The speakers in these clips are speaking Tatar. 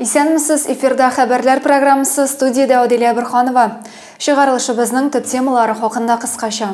Исәнмесез, эфирда хәбәрләр программасы студиядә Адилә Бирханова. Чыгарылышыбызның төп темалары хакында кыскача.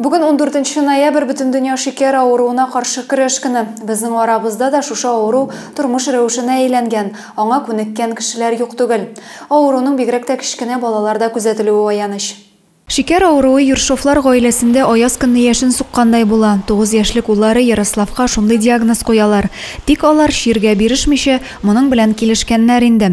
Бүген 14 ноябрь бөтендөнья шикәр авыруына каршы көрәш көне. Безнең арабызда да шушы авыру тормыш рәвешенә әйләнгән, аңа күнеккән кешеләр юк түгел. Авыруның бигрәк тә кечкенә балаларда күзәтелүе аяныч. Шикәр авыруы Ершовлар гаиләсендә аяз көнне яшен суккандай була. Тугыз яшьлек уллары Ярославка шундый диагноз куялар. Тик алар, чиргә бирешмичә, моның белән килешкәннәр инде.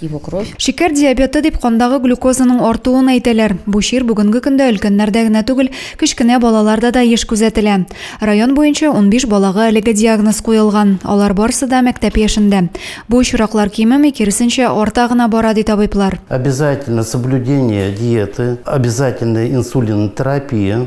его кровь. Шикәр диабеты дип кандагы глюкозаның артуын әйтәләр. Бу чир бүгенге көндә өлкәннәрдә генә түгел, кечкенә балаларда да еш күзәтелә. Район буенча унбиш балага әлеге диагноз куелган, алар барысы да мәктәп яшендә. Бу очраклар кимеми, киресенчә, арта гына бара, ди табиблар. Обязательно соблюдение диеты, обязательная инсулинотерапия.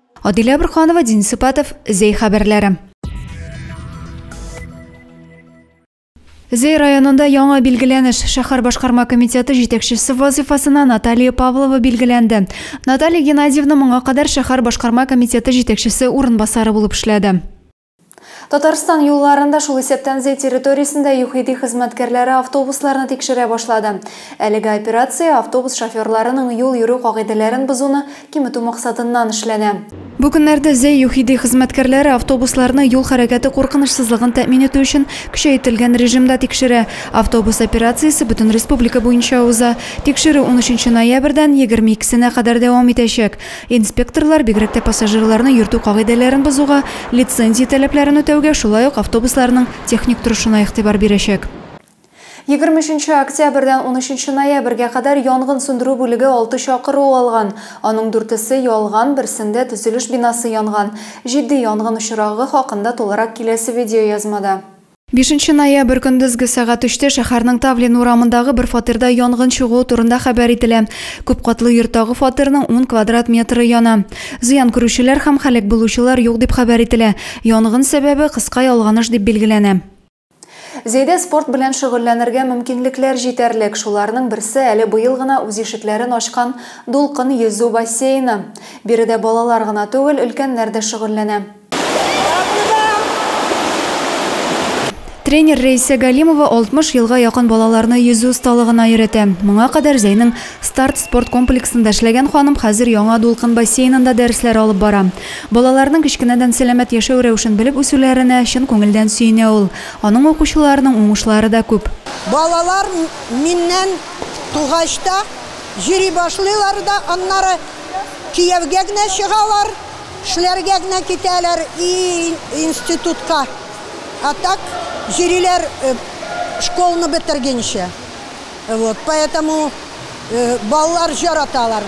Адилә Борханова, Дин Сыпатов, Зәй хәбәрләре. Зәй районында яңа билгеләнеш, шәхәр башкарма комитеты җитәкчесе вазыйфасына Наталия Павлова билгеләнде. Наталия Геннадьевна моңа кадәр шәхәр башкарма комитеты җитәкчесе урынбасары булып эшләде. Татарстан юлларында, шул исәптән Зәй территориясендә ЮХИДИ хезмәткәрләре автобусларны тикшерә башлады. Әлеге операция автобус шоферларының юл йөрү кагыйдәләрен бозуны киметү максатыннан эшләнә. Бу көннәрдә Зәй ЮХИДИ хезмәткәрләре автобусларны юл хәрәкәте куркынычсызлыгын тәэмин итү өчен көчәетелгән режимда тикшерә. Автобус операциясе бөтен республика буенча уза. Тикшерү унөченче ноябрьдән егерме икесенә кадәр дәвам итәчәк. Инспекторлар бигрәк тә пассажирларны йөртү кагыйдәләрен бозуга, лицензия таләпләрен үтәүгә, шулай ук автобусларның техник торышына игътибар бирәчәк. Егерме өченче октябрьдән унөченче ноябрьгә кадәр янгын сүндерү бүлеге алты чакыру алган. Аның дүртесе ялган, берсендә төзелеш бинасы янган. Җитди янгын очрагы хакында тулырак киләсе видеоязмада. Бишенче ноябрь көндезге сәгать өчтә шәһәрнең Тавлин урамындагы бер фатирда янгын чыгуы турында хәбәр ителә. Күп катлы йорттагы фатирның ун квадрат метры яна. Зыян күрүчеләр һәм һәлак булучылар юк дип хәбәр ителә. Янгын сәбәбе, кыска ялганыш дип билгеләнә. Зәйдә спорт белән шөгыльләнергә мөмкинлекләр җитәрлек, шуларның берсе әле быел гына үз ишекләрен ачкан Дулкын йөзү бассейны. Биредә балалар гына түгел, өлкәннәр дә шөгыльләнә. Тренер Рәйсә Галимова 60 елга якын балаларны йөзү осталыгына өйрәтә. Моңа кадәр Зәйнең Старт спорт комплексында эшләгән ханым хәзер Яңа дулкын бассейнында дәресләр алып бара. Балаларның кечкенәдән сәламәт яшәү рәвешен белеп үсүләренә чын күңелдән сөенә ул. Аның укучыларының уңышлары да күп. Балалар миннән тугач та йөри башлыйлар да, аннары кияүгә генә чыгалар. Эшләргә генә китәләр ии институтка, а так йөриләр школны бетергенчә. Вот поэтому балалар яраталар.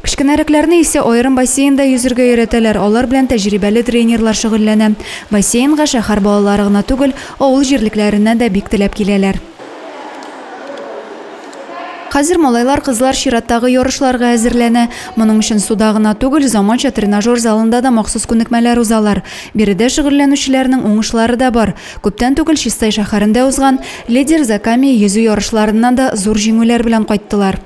Кечкенәрәкләрне исә аерым бассейнда йөзергә өйрәтәләр, алар белән тәҗрибәле тренерлар шөгыльләнә. Бассейнга шәһәр балалары гына түгел, авыл җирлекләреннән дә бик теләп киләләр. Хәзер малайлар-кызлар чираттагы ярышларга әзерләнә. Моның өчен суда гына түгел, заманча тренажер залында да махсус күнекмәләр узалар. Биредә шөгыльләнүчеләрнең уңышлары да бар. Күптән түгел Чистай шәһәрендә узган Лидер за камень йөзү ярышларыннан да зур җиңүләр белән кайттылар.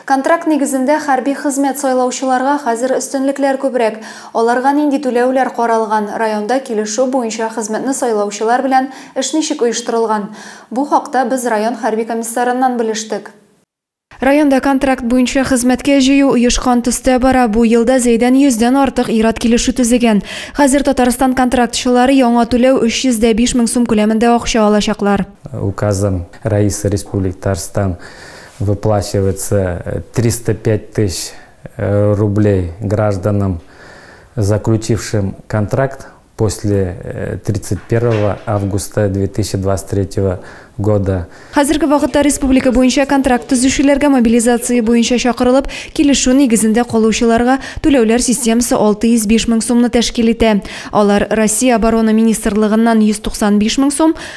Контракт нигезендә хәрби хезмәт сайлаучыларга хәзер өстенлекләр күбрәк. Аларга нинди түләүләр каралган, районда килешү буенча хезмәтне сайлаучылар белән эш ничек оештырылган? Бу хакта без район хәрби комиссарыннан белештек. Районда контракт буенча хезмәткә җыю оешкан төстә бара, бу елда Зәйдән йөздән артык ир-ат килешү төзегән. Хәзер Татарстан контрактчылары яңа түләү 305 мең сум күләмендә акча алачаклар. Указым Рәисе Республика Татарстан Выплачивается 305 тыщ рублей гражданам, заключившим контракт после 31 августа 2023 года. Хәзерге вакытта республика буенча контракт төзүчеләргә мобилизация буенча чакырылып, килешү нигезендә калучыларга түләүләр системасы 605 мең сумны тәшкил итә. Алар Россия Оборона министрлыгыннан 195 мең сум,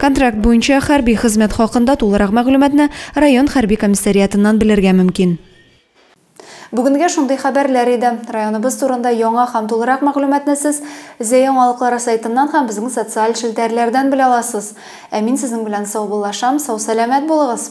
Контракт буенча хәрби хезмәт хакында тулырак мәгълүматны район хәрби комиссариатыннан белергә мөмкин. Бүгенгә шундый хәбәрләр иде. Районыбыз турында яңа һәм тулырак мәгълүматны сез Зә яңалыклары сайтыннан һәм безнең социаль челтәрләрдән белә аласыз. Ә мин сезнең белән саубуллашам, сау-сәламәт булыгыз!